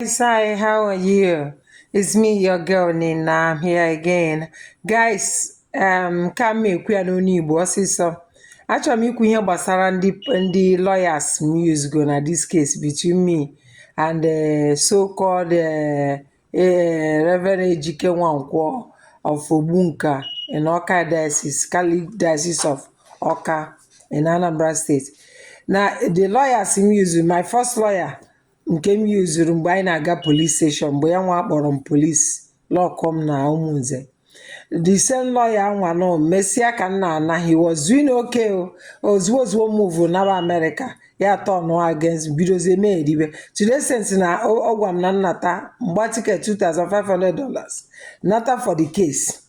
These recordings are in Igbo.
guys, hi, how are you? It's me, your girl Nina. I'm here again. Guys, um, ka m ekwu ya n'ọnụ Igbo ọsịsọ. Achọrọ m ikwu ihe gbasara ndị ndị lawyers m usego na this case between me and uh, so-called uh, uh, Reverend Ejike Nwankwo of Ogbunka in Awka Diocese, Catholic Diocese of Awka in Anambra State. Na the lawyers m use, my first lawyer nke m yuzuru mgbe anyị na-aga polis steshọn mgbe ya nwa kpọrọ m polis lọkụọ m na ụmụnze the same lawyer anwa nọ mesịa ka m na-ana he was doing okay o ozugbo ozugbo move naba amerịka ya tọnụọ against bidozie mee eribe to the extent na ọ ọ gwa m na m nata m gbaa tiket 2500 dollars nata for the case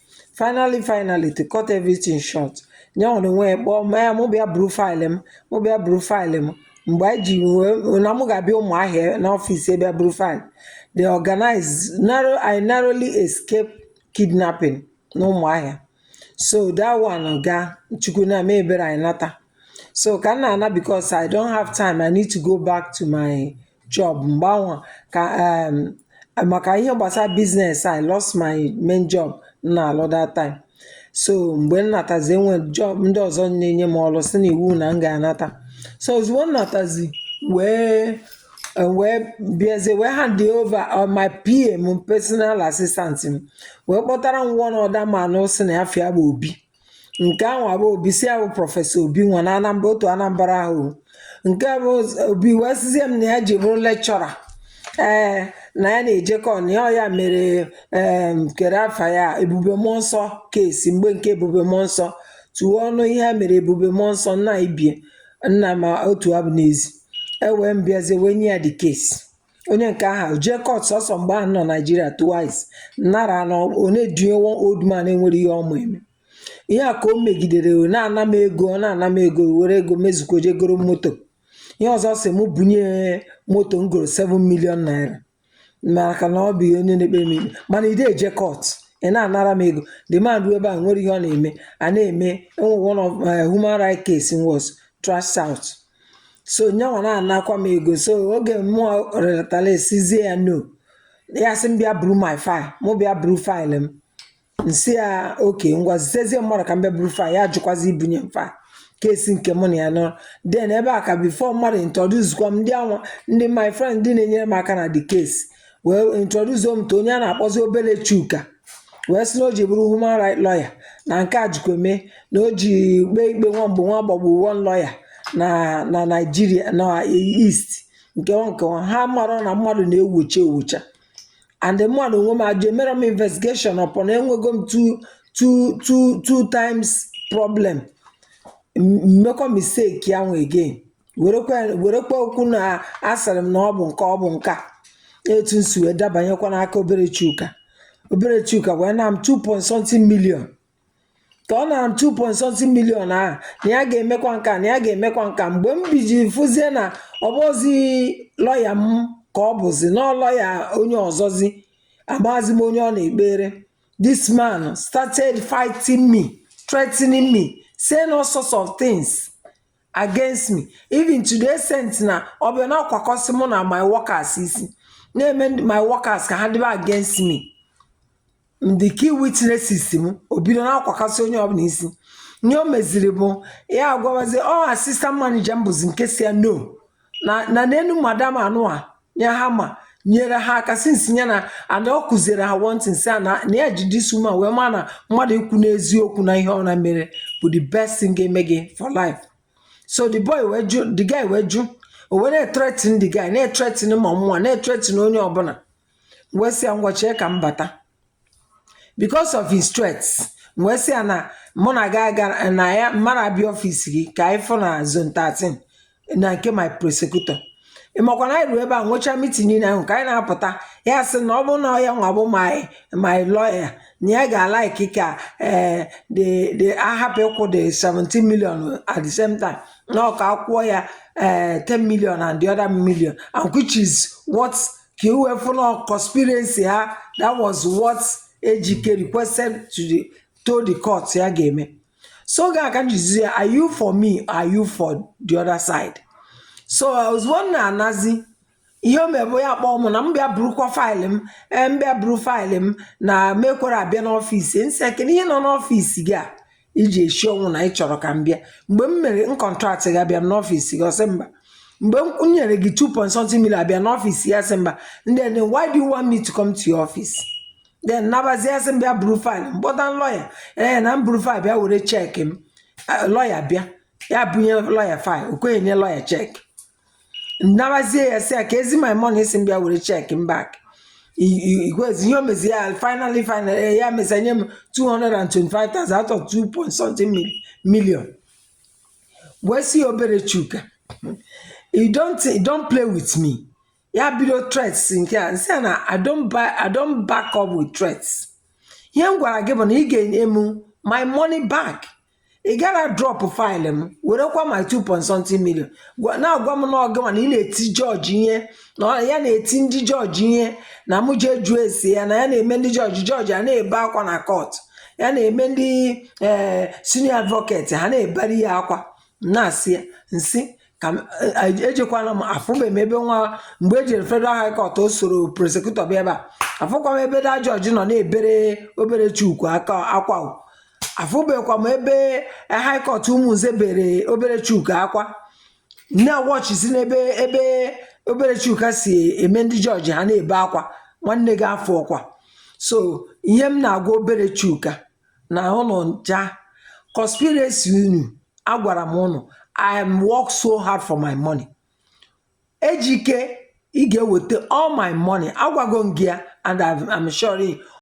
finally finally to cut everything short ya nwere onwe ya kpọọ m mụ bịa buru faịlụ m mụ bịa buru faịlụ m mgbe anyị ji wee na mụ ga-abịa ụmụahịa n'ọfịs bịa buru faịlụ they organize narrow I narrowly escape kidnapping na ụmụahịa so that one gaa chukwu na-eme ebere anyị nata so ka m na-ana because I don't have time I need to go back to my job mgbe anwa ka um maka ihe gbasara business I lost my main job m na-alụ that time so mgbe m natazi enwee job ndị ọzọ na-enye m ọrụ sị na iwu na m ga-anata so ozugbo m natazi wee wee bịazie wee hand over uh, my PA m personal assistant m wee kpọtara m one other man sị na afa ya bụ obi nke ahụ bụ obi sị ya bụ prọfesọ obi nwa na anambra otu anambra ahụ nke a bụ obi wee sịzie m na ya ji bụrụ lekchọra ee na ya na-ejekọ na ya ya mere em kere afa ya ebube mmụọ nsọ kesi mgbe nke ebube mmụọ nsọ tụọ ọnụ ihe a mere ebube mmụọ nsọ nna ibie nna ma otu abụ n'ezi ewee m bịazie wee nye ya the case onye nke ahụ jee kọt sọsọ mgbe m nọ naijiria twice nara na ọ na-edunye one old man enwere ihe ọ ma eme ihe a ka o megidere o na-ana m ego ọ na-ana m ego were ego mezuko jee goro moto ihe ọzọ sị mụ bunye moto m goro 7 million naira maka na ọ bụ ihe onye na-ekpe m ikpe mana ide eje kọt ị na-anara m ego the man ruo ebe a nwere ihe ọ na-eme a na-eme enwere one of eh, human right case was trash out so nyanwa na-anakwa m ego so oge mụa rịọtara asịzie ya no ya sị m bịa buru my file mụ bịa buru faịlụ m m sị ya oke ngwa zitezie mmadụ ka m bịa buru faịlụ ya jụkwazi ibunye m faịlụ kesi nke mụ na ya nwa den ebe a ka bifo mmadụ introduzkwa m ndị anwa ndị my friend ndị na-enyere m aka na the case wee introduce m to onye a na-akpọzi Obele Chuka wee sị na o ji bụrụ human right lawyer na nke a jikwa eme na o ji kpee ikpe nwa mgbe nwa gbagbu one lawyer na na Naijiria na East nke ọ nke ọ. ha mara na mmadụ na-ewocha ewocha and mmadụ onwe m ajụ emerọ m investigation upon enwego m two two two two times problem m- mekwa mistake ya nwa again werekwa werekwa okwu na asịrị m na ọ bụ nke ọ bụ nke a etu m si wee dabanyekwa n'aka Obele Chuka Obele Chuka wee naa m 2 point something million ka ọ nara m 2 point something million ahụ na ya ga-emekwa nka na ya ga-emekwa nka mgbe m biji fụzie na ọ bụzi lọya m ka ọ bụzi na lọya onye ọzọzi amazi m onye ọ na-ekpere this man started fighting me threatening me saying all sorts of things against me even to the extent na ọ bịa na-akwakasị mụ na my workers isi na-eme ndị- my workers ka ha dịbe against me ndị key witnesses m o bido na-akwakasị onye ọbụla isi ihe o meziri bụ ya agwawazi ọ assistant manager m bụzi nke sị ya no na na n'enu madam anụa nye ha ma nyere ha aka since nye na and ọ kụziere ha one thing sị na na ya ji this woman wee ma na mmadụ ikwu n'eziokwu na ihe ọbụna mere bụ the best thing ga-eme gị for life so the boy wee jụ the guy wee jụ o wee na-etretin the guy na-etretin ma mụwa na-etretin onye ọbụla wee sị ya ngwa chee ka m bata Because of his threats, m wee sị ya na mụ na gị aga na ya mmadụ abịa ọfis gị ka anyị fụ na zone 13 na nke my prosecutor. Ị makwa na anyị ruo ebe a nwechaa mitin niile ahụ ka anyị na-apụta ya sị na ọ bụrụ na ọ ya nwa bụ my my lawyer na ya ga-alaiki ka eh, the the a hapụ ịkwụ the 17 million at the same time na ọ ka a kwụọ ya eh, 10 million and the other million and which is what ka i wee fụ na conspiracy ha that was what Ejike requested to the to the court ya ga-eme so ya ka m jụzi ya are you for me or are you for the other side so ozugbo m na-anazi ihe o mee bụ ya kpọọ m na m bịa burukwa faịlị m ee m bịa buru faịlị m na m ekwerọ abịa n'ọfịs m sị kedu ihe nọ n'ọfịs gị a i ji eshi ọnwụ na ị chọrọ ka m bịa mgbe m mere m contract gị abịa m n'ọfịs gị ọ sị mba mgbe m m nyere gị 2 point something million abịa n'ọfịs ya sị mba then why do you want me to come to your office then nabazi ya sị m bịa buru faịlụ m kpọta lọya ee na m buru faịlụ bịa were cheki m Eh, lọya bịa ya bunye lọya faịlụ o kweghị nye lọya cheki nnabazie ya sị ya ka ezi my money sị m bịa were cheque m back igwezi ihe o mezi ya finally finally eh, ya mesa nye m 225,000 out of 2 point something mil- million wee sị ya obere chuka you don't you don't play with me ya bido threats nke a nsị ya na i don't buy i don't back up with threats ihe m gwara gị bụ na ị ga-enye m my money back ị gara drop file m werekwa my 2 point something million Gwa- na-agwa m na ọ gịnwa na ị na-eti jọji ihe na ọ- ya na-eti ndị jọji ihe na mụ jee jụọ ese ya na ya na-eme ndị jọji jọji a na-ebe akwa na court ya na-eme ndị ee senior advocate ha na-ebere ya akwa na-asị ya nsị ka m e- e- ejekwana m afụbeghị m ebe nwa mgbe e jere federal high court o soro prosecutor bịa ebe a afụkwa m ebe the judge nọ na-ebere obere chuka akwa o. afụbeghịkwa m ebe high court ụmụnze bere obere chuka akwa nne wọchisi n'ebe ebe obere chuka si eme ndị jọji ha na-ebe akwa nwanne gị afọ ọkwa so ihe m na-agwa obere chuka na ụnụ ncha conspiracy ụnụ agwara m ụnụ I am work so hard for my money Ejike ị ga-eweta all my money agwago m gị ya and I'm I'm sure